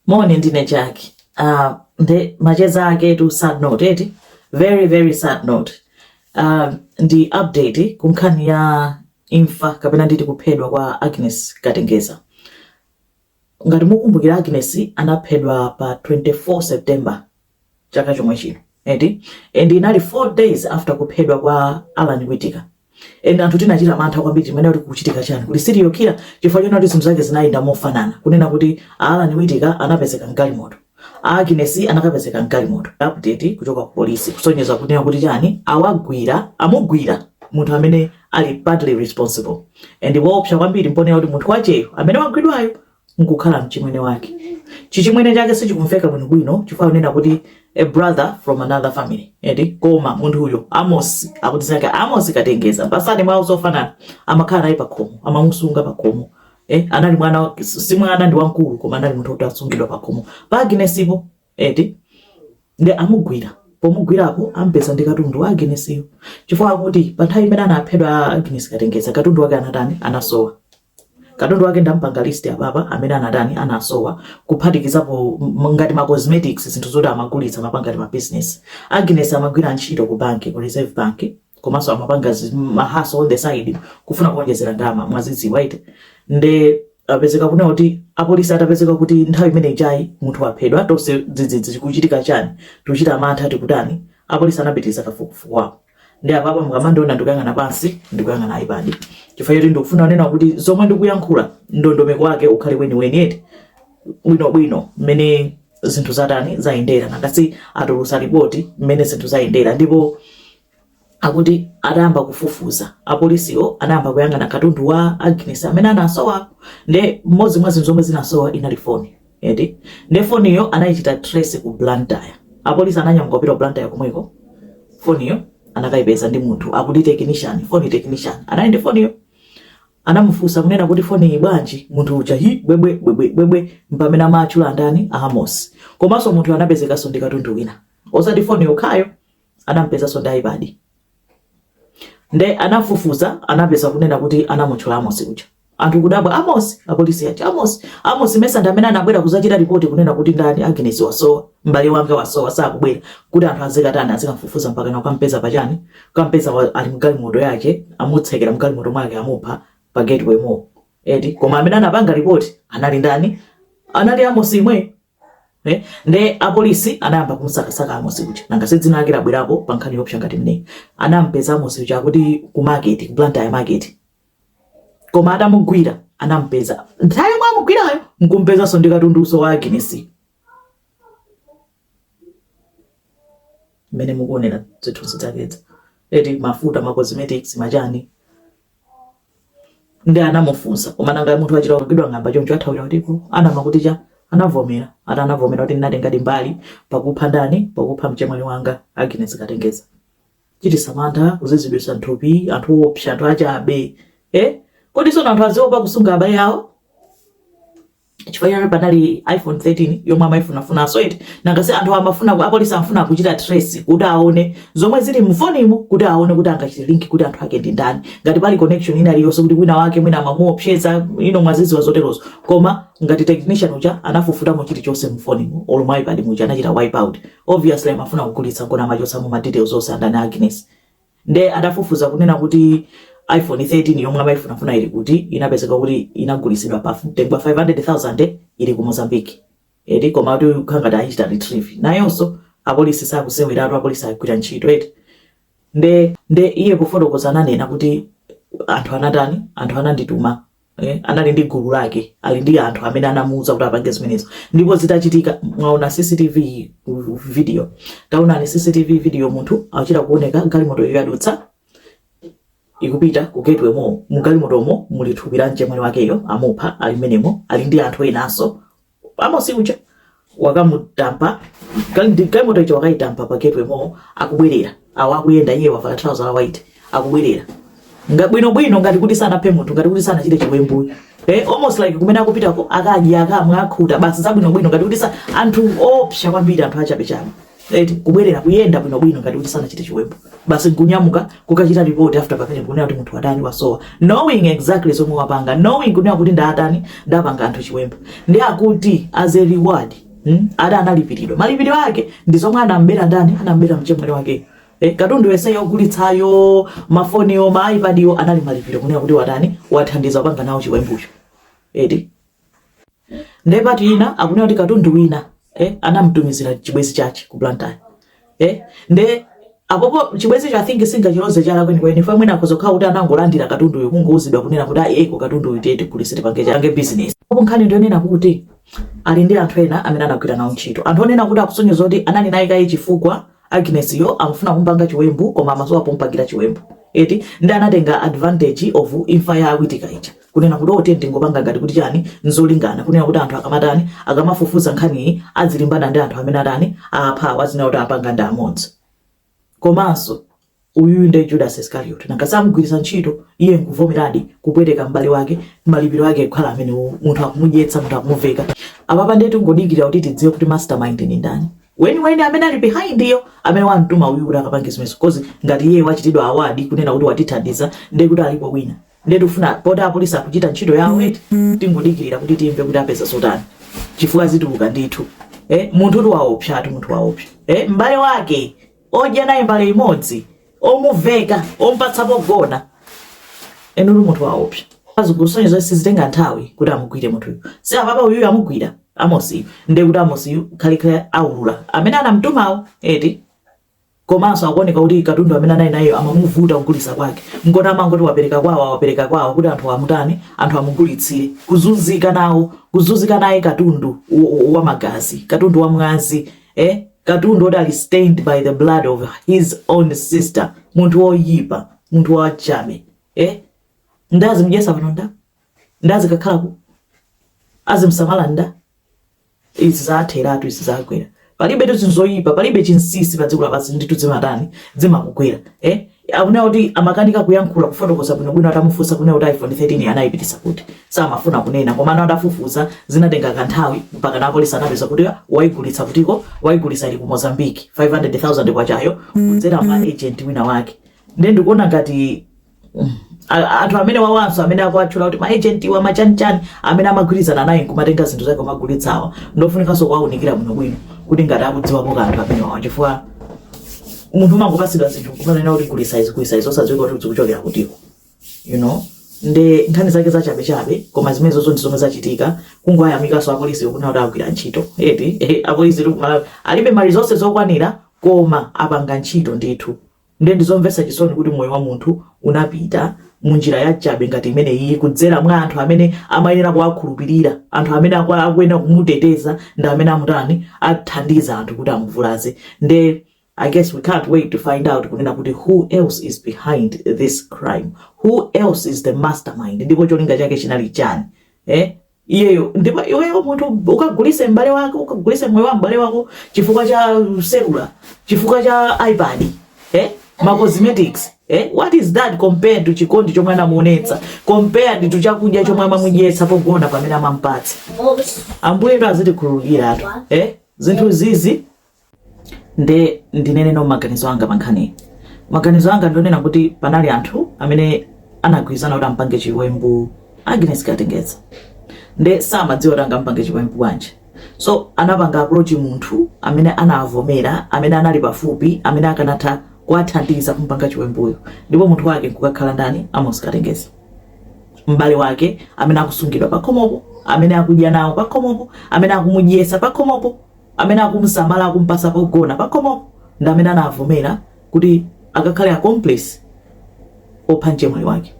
moni ndine jackie uh, ah, nde macheza aketu sad note eti very very sad note uh, ndi update kunkhani ya imfa kapena nditi kuphedwa kwa agnes katengeza ngati mukumbukira agnes anaphedwa pa 24 september chaka chomwe chino eti and inali 4 days after kuphedwa kwa Alan Witika and anthu tinachita mantha kwambiri chimene kuti kuchitika chani kuti serial killer chifukwa chonena kuti zinthu zake zinayenda mofanana kunena kuti Alan Witika anapezeka mgalimoto Agnes anakapezekanso mgalimoto update kuchoka ku polisi ikusonyeza kunena kuti chani awagwira amugwira munthu amene ali partly responsible and poopsa kwambiri mponena kuti munthu wakeyo amene wagwidwayo nkukhala mchimwene wake chichimwene chake sichikumveka bwinobwino chifukwa kunena kuti a brother from another family eti koma munthu wakeyo amos akuti dzina lake amos katengeza ma surname awo zofanana amakhala naye pakhomo amamusunga pakhomo eh, anali mwana si mwana ndi wamkulu koma anali munthu woti akusungidwa pakhomo pa agnespo eti nde amugwira pomugwirapo ampeza ndi katundu wa agnesyo chifukwa akuti pa nthawi imene anaphedwa agnes katengeza katundu wake anatani anasowa Katundu wake ndampanga list apapa amene anatani anasowa kuphatikizapo m- ngati ma cosmetics zinthu zoti amagulitsa amapanga ngati ma business. Agnes amagwira ntchito ku banki ku Reserve Bank komanso amapanga zi- mahaso on the side kufuna kuonjezera ndalama mwazidziwa eti nde apezeka kunena kuti apolisi atapezeka kuti nthawi imene ijayi munthu waphedwa tonse dzidzidzi chikuchitika chani tikuchita mantha tikutani apolisi anapitiriza kafukufuku wawo nde apapa mukamandiona ndikuyang'ana pansi ndikuyang'ana ipad chifukwa choti ndikufuna kunena kuti zomwe ndikuyankhula ndondomeko wake ukhale weniweni eti bwinobwino mmene zinthu zatani zayendera nanga si atulutsa ripoti mmene zinthu zayendera ndipo akuti atayamba kufufuza apolisiwo anayamba kuyang'ana katundu wa Agnes amene anasowa nde mmodzi mwa zinthu zomwe zinasowa inali foni eti nde foniyo anaichita trace ku blantyre apolisi ananyamuka kupita ku blantyre komweko foniyo anakaipeza ndi munthu akuti technician phone technician anali ndi foniyo anamufunsa kunena kuti foni iyi bwanji munthu uja hi bwebwe bwebwe bwebwe mpamene amatchula ndani amos komanso munthu anapezekanso ndi katundu wina osati foni yokhayo anampezanso ndi ipad nde anafufuza anapeza kunena kuti anamutchula amos uja anthu kudabwa amos apolisi aja amos amos mesa ndi amene anabwera kuzachita ripoti kunena kuti ndani agnes wasowa m'bale wanga wasowa sakubwera kuti anthu azikatani azikamfufuza mpaka na kukampeza pachani kukampeza wa- ali mgalimoto yake amutsekera mgalimoto mwake amupha pa gateway mall eti koma amene anapanga ripoti anali ndani anali amos imwe Nde apolisi anayamba kumsakasaka Amosi uja nanga si dzina lake labwerapo pa nkhani yopsa ngati imeneyi anampeza Amosi uja akuti ku market ku Blantyre market koma atamugwira anampeza nthawi yomwe amugwirayo nkumpezanso ndi katunduso wa Agnes mmene mukuonera zithunzi zakezo eti mafuta ma cosmetics machani nde anamufunsa koma nanga munthu wachita kugwidwa ng'amba choncho athawira kutiko anamakuti chani anavomera ati anavomera kuti ndinatengadi mbali pakupha ndani pakupha mchemwali wanga Agnes Katengeza chititsa mantha kuziziritsa nthupi anthu opsa anthu achabe eh kodi sono anthu aziopa kusunga abale awo chifukwa chake panali iphone 13 yomwe amayifunafunanso eti nanga si anthu amafuna apolisi amafuna kuchita trace kuti aone zomwe zili mfonimu kuti aone kuti angachite link kuti anthu ake ndi ndani ngati pali connection ina iliyonse kuti wina wake mwina amamuopseza you know mwaziziwa zoterozo koma ngati technician uja anafufutamo chilichonse mfonimu olo mwa ipad muja anachita wipe out obviously amafuna kugulitsa nkona amachotsamo ma details onse a ndani Agnes Nde adafufuza kunena kuti iPhone 13 yomwe amaifunafuna ili kuti, inapezeka kuti inagulitsidwa pa mtengo wa 500,000 ili ku Mozambique. Eti koma akuti kukhala ngati ayichita retrieve. Nayonso apolisi sakuseweratu, apolisi agwira ntchito eti. Nde nde iye pofotokoza ananena kuti anthu anatani, anthu anandituma eh, anali ndi gulu lake ali ndi anthu amene anamuuza kuti apange zimenezo ndipo zitachitika mwaona cctv video taonani cctv video munthu achita kuoneka galimoto iyo yadutsa ikupita ku gateway mall mugalimotomo muli thupi la mchemwali wakeyo amupha ali mmenemo ali ndi anthu enanso amosi uja wakamutampa kandi- galimoto ija wakayitampa pa gateway mall akubwerera awo akuyenda iye wavala trouser la white akubwerera Nga- bwinobwino ngati kuti sanaphe munthu ngati kuti sanachite chiwembu eh, almost like kumene akupitako akadya akamwa akhuta basi zabwinobwino ngati kuti sa anthu opsa kwambiri anthu achabechabe Eti kubwerera kuyenda bwino bwino ngati kuti sanachite chiwembu. Basi nkunyamuka kukachita report after pamene kunena kuti munthu watani wasowa. Knowing exactly zomwe wapanga, knowing kunena kuti ndatani ndapanga anthu chiwembu. Nde akuti as a reward, hmm? Ada analipiridwa. Malipiro ake ndi zomwe anambera ndani? Anambera mchemwali wake. Eh, katundu yense yogulitsayo, mafoniwo, ma iPadiwo anali malipiro kunena kuti watani wathandiza kupanga nawo chiwembucho. Eti nde part ina akunena kuti katundu wina eh, anamtumizira chibwenzi chake ku Blantyre eh, nde apopo chibwenzicho I think sitingachiloze chala kweni kweni chifukwa mwina akhoza kukhala kuti anangolandira katunduyo kungouzidwa kunena kuti ayi eko katunduyu tiye tigulitse tipange business apo nkhani ndiyonena kuti ali ndi anthu ena amene anagwira nawo ntchito anthu onena kuti akusonyeza kuti anali naye kaye chifukwa Agnes yo amfuna kumpanga chiwembu koma amasowa pompangila chiwembu eti nde anatenga advantage of imfa ya Witika ija kunena kuti oh tiyeni tingopanga ngati kuti chani nzolingana kunena kuti anthu akamatani akamafufuza nkhaniyi adzilimbana ndi anthu amene atani apha awa azinena kuti apanga ndi amodzi komanso Uyuyu nde Judas Iscariot nanga samugwiritsa ntchito iye nkuvomeradi kupweteka m'bale wake malipiro ake kukhala amenewowo munthu akumudyetsa munthu akumuveka apapa nde tingodikirira kuti tidziwe kuti mastermind ndi ndani weniweni amene ali behind yo amene wamtuma uyu kuti akapange zimenezo cause ngati iye wachitidwa award kunena kuti watithandiza nde kuti alipo wina nde tifuna poti apolisi akuchita ntchito yawo eti tingodikirira kuti timve kuti apeza zotani chifukwa zituluka ndithu eh, munthu kuti waopsatu munthu waopsa eh, m'bale wake odya naye mbale imodzi omuveka ompatsa pogona inu munthu waopsa zikusonyeza kuti sizitenga nthawi kuti amugwire munthuyu si apapa uyuyu amugwira Amosiyu ndiye kuti Amosiyu kalekale aulula amene anamtumawo eti komanso zikuoneka kuti katundu amene anali nayeyo amamuvuta kugulitsa kwake nkona amangoti wapereka kwawo wapereka kwawo kuti anthu amutani anthu amugulitsire kuzunzika nawo kuzunzika naye katundu wa- wa wa magazi katundu wa mwazi eh? katundu oti ali stained by the blood of his own sister munthu woyipa munthu wachabe eh? ndazi mjesa pano nda ndazi kakhalako azimsamala nda izi zatheratu izi zagwera palibetu zinthu zoyipa palibe chinsisi pa dziko lapansi ndithu zimatani zimakugwera eh? akunena kuti amakanika kuyankhula kufotokoza bwinobwino atamufunsa kunena kuti iphone 13 anayipititsa kuti samafuna kunena koma ana adafufuza zinatenga kanthawi mpakana apolisi anapeza kuti ah, wayigulitsa kutiko wayigulitsa ili ku Mozambique 500000 kwacha yo kudzera mwa agent wina wake nde ndikuona ngati mm, a- anthu amenewawanso amene akuwatchula kuti ma agent a machanichani amene amagwirizana naye nkumatenga zinthu zake kumagulitsawa ndofunikanso kuwaunikira bwinobwino kuti ngati akudziwapo kanthu amenewawa chifukwa munthu umangopatsidwa zinthu kumanena kuti gulitsa izi gulitsa izi osadziwika kuti zikuchokera kutiko you know nde nkhani zake zachabechabe koma zimenezozo ndi zomwe zachitika kungoyamikanso apolisi kunena kuti agwira ntchito eti eh, apolisi tu- ma- alibe mali zonse zokwanira koma apanga ntchito ndithu nde ndizomvetsa chisoni kuti moyo wa munthu unapita munjira yachabe ngati imene iyi kudzera mwa anthu amene amayenera kuwakhulupirira anthu amene akuyenera kumuteteza ndi amene amutani athandiza anthu kuti amuvulaze nde I guess we can't wait to find out kunena kuti who else is behind this crime who else is the mastermind ndipo cholinga chake chinali chani eh? iyeyo ndipo iweyo munthu ukagulitse m'bale wako ukagulitse moyo wa m'bale wako chifukwa cha cellular chifukwa cha ipad eh? ma cosmetics eh? what is that compared to chikondi chomwe amamuonetsa compared to chakudya chomwe amamudyetsa pogona pamene amampatsa ambuye ndo azitikhululukiratu eh? zinthuzizi nde ndineneno maganizo anga pa nkhaniyi maganizo anga ndionena kuti panali anthu amene anagwirizana kuti ampange chiwembu agnes katengeza nde samadziwa kuti angampange chiwembu bwanji so anapanga approach munthu amene anavomera amene anali pafupi amene akanatha kuwathandiza kumpanga chiwembuyo ndipo munthu wake nkukakhala ndani amos katengeza m'bale wake amene akusungidwa pakhomopo amene akudya nawo pakhomopo amene akumudyesa pakhomopo Amene akumusamala akumupasa pogona pakhomopo ndi amene anavomera kuti akakhale accomplice opha mchemwali wake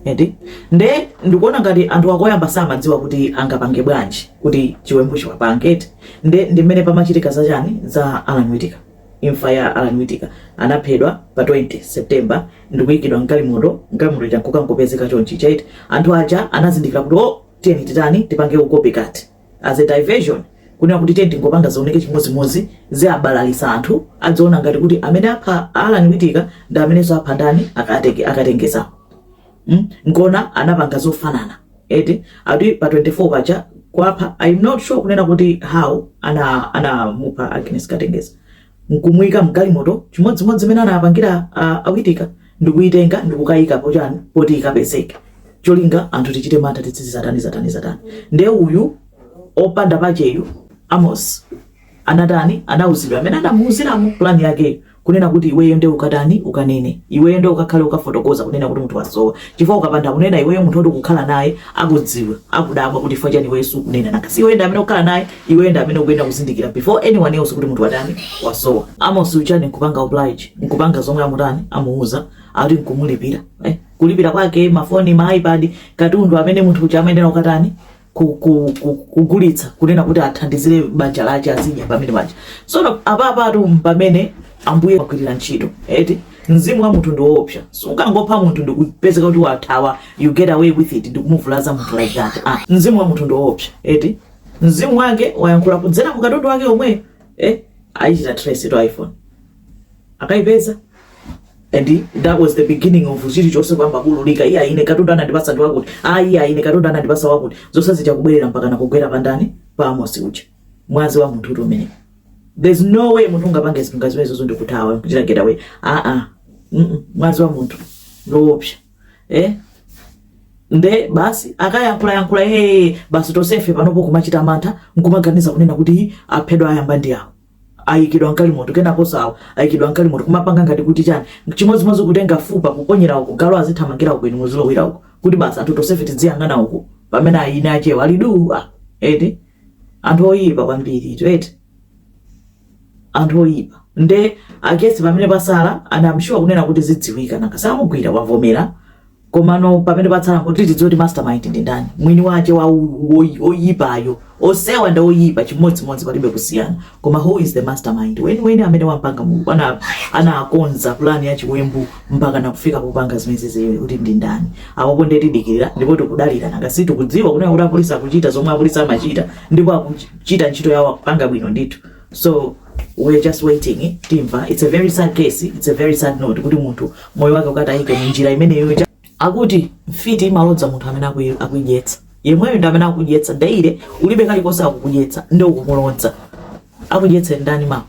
eti nde ndikuona ngati anthu akoyamba samadziwa kuti angapange bwanji kuti chiwembu chiwapange eti nde ndi mmene pamachitika za chani za Alan Witika imfa ya Alan Witika anaphedwa pa 20 September ndikuyikidwa mgalimoto mgalimoto ija nkukangopezeka chonchi chaiti anthu aja anazindikira kuti oh tiyeni titani tipange copycat as a diversion kunena kuti tiye tingopanga zioneke chimodzimodzi ziabalalisa anthu adziona ngati kuti amene apha Allan Witika ndi amenenso apha ndani akatenge akatengeza mm? nkona anapanga zofanana eti ati pa 24 paja kwapha i'm not sure kunena kuti how ana anamupha Agnes Katengeza nkumuika mgalimoto chimodzimodzi mene anapangira a, a Witika ndikuitenga ndikukayika pochani poti ikapezeke cholinga anthu tichite mantha tidzizi zatani zatani zatani nde uyu opanda pakeyu Amos anatani anauzidwa amene anamuuziramo plan yakeyo kunena kuti iweyo nde ukatani ukanene iweyo nde ukakhale ukafotokoza kunena kuti munthu wasowa chifukwa ukapanda kunena iweyo munthu oti ukukhala naye akudziwa akudabwa kuti chifukwa chani iweyo sukunena nanga si iweyo ndi amene ukukhala naye Iweyo ndi amene ukuyenera kuzindikira before anyone else kuti munthu watani wasowa. Amos uchani nkupanga oblige nkupanga zomwe amutani amuuza ati nkumulipira eh? kulipira kwake mafoni ma ipad katundu amene munthu uja amayenera kukatani ku- ku- ku- kugulitsa kunena kuti athandizire banja lake azidya pa banja so apapatu mpamene ambuye agwirira ntchito eti mzimu wa munthu ndiwoopsa sungangopha munthu ndikupezeka kuti wathawa you get away with it ndikumuvulaza munthu like that ah, mzimu wa munthu ndiwoopsa eti Mzimu wake wayankhula kudzera mu katundu wake omwe eh, ayichita trace to iPhone akaipeza and that was the beginning of chilichonse kuyamba kuululika iya ine katundu anandipasa ndi wakuti ah, iya ine katundu anandipasa wakuti zonse zija kubwerera mpaka nakugwera pandani pa Amosi uja mwazi wa munthu umenewo there's no way munthu ungapange zinthu ngati zimenezo ndikuthawa kuchita getaway ah ah mm -mm. mwazi wa munthu ndiwoopsa eh nde basi akayankhula yankhula ee basi tosefe panopo kumachita mantha nkumaganiza kunena kuti aphedwa ayamba ndi awo ayikidwa mgalimoto kenako awa ayikidwa mgalimoto kumapanga ngati kuti chani chimodzimodzi kutenga fupa kuponyera uko galu azithamangira uko inu muzilowera uko kuti basi anthu tosefe tidziyang'ana uko pamene eni akewo ali duu eti anthu oyipa kwambiri eti anthu oyipa nde I guess pamene patsala and I'm sure kunena kuti zidziwika nanga samugwira wavomera komano pamene patsala kuti tidziwe kuti mastermind ndi ndani mwini wache wa oyipayo onsewa ndi oyipa chimodzimodzi palibe kusiyana koma who is the mastermind mwiniwake amene wapanga mulungu ana anakonza plan ya chiwembu mpaka nakufika popanga zimenezizi kuti ndi ndani apopo nde tidikira ndipo tikudalira nanga si tikudziwa kunena kuti apolisi akuchita zomwe apolisi amachita ndipo akuchi chita ntchito yawo akupanga bwino ndithu so we're just waiting timva it's a very sad case it's a very sad note kuti munthu moyo wake ukatayike mu njira imeneyo ja- akuti mfiti imalodza munthu amene akuyi- akuidyetsa yemweyo ndi amene akudyetsa daily ulibe kalikonse akukudyetsa nde ukumulodza akudyetse ndani ma-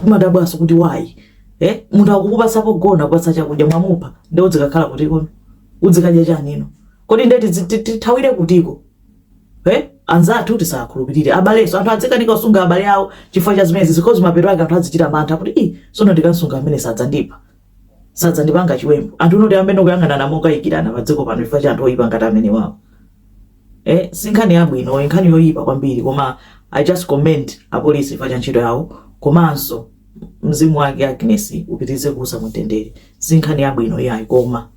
kumadabwaso kuti why eh? munthu akukupasa pogona kupasa chakudya mwamupha nde udzikakhala kutiko udzikadya chani no kodi nde tidzi- ti- tithawire kutiko Eh? anzathu tisakhulupirire abaleso anthu adzikanika kusunga abale awo chifukwa cha zimenezi zikozi mapeto ake anthu azichita mantha kuti i sono ndikasunga amene sadzandipha sadzandipanga chiwembu anthu unoti ayambe kuyang'anana mokayikirana padziko pano chifukwa cha anthu oyipa ngati amenewawa eh, si nkhani yabwino nkhani yoyipa kwambiri koma i just commend apolisi chifukwa cha ntchito yawo komanso mzimu wake agnes upitirize kuusa mumtendere si nkhani yabwino iyayi koma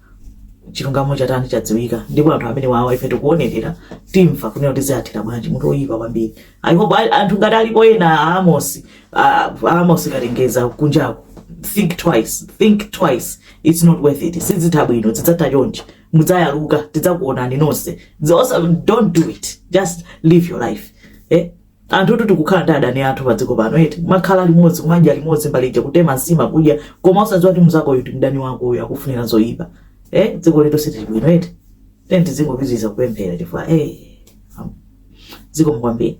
chilungamo chatani chadziwika ndipo anthu amenewawa ife tikuonerera timva kunena kuti ziathera bwanji munthu oyipa kwambiri i hope a- anthu ngati alipo ena a amosi a- a amosi katengeza kunjako think twice think twice it's not worth it sizitha bwino zidzatha chonchi mudzayaluka tidzakuonani nonse Zosa- don't do it just live your life eh? Anthutu tikukhala ndi adani athu padziko pano eti, kumakhala limodzi, kumadya limodzi mbale ija, kutema nsima, kudya, koma osadziwa kuti mnzakoyu ndi mdani wako uyu akufunira zoipa. Eh, dziko lathu silili bwino eti. Tiyeni tizingopitiriza kupemphera chifukwa eh, am- zikomo kwambiri.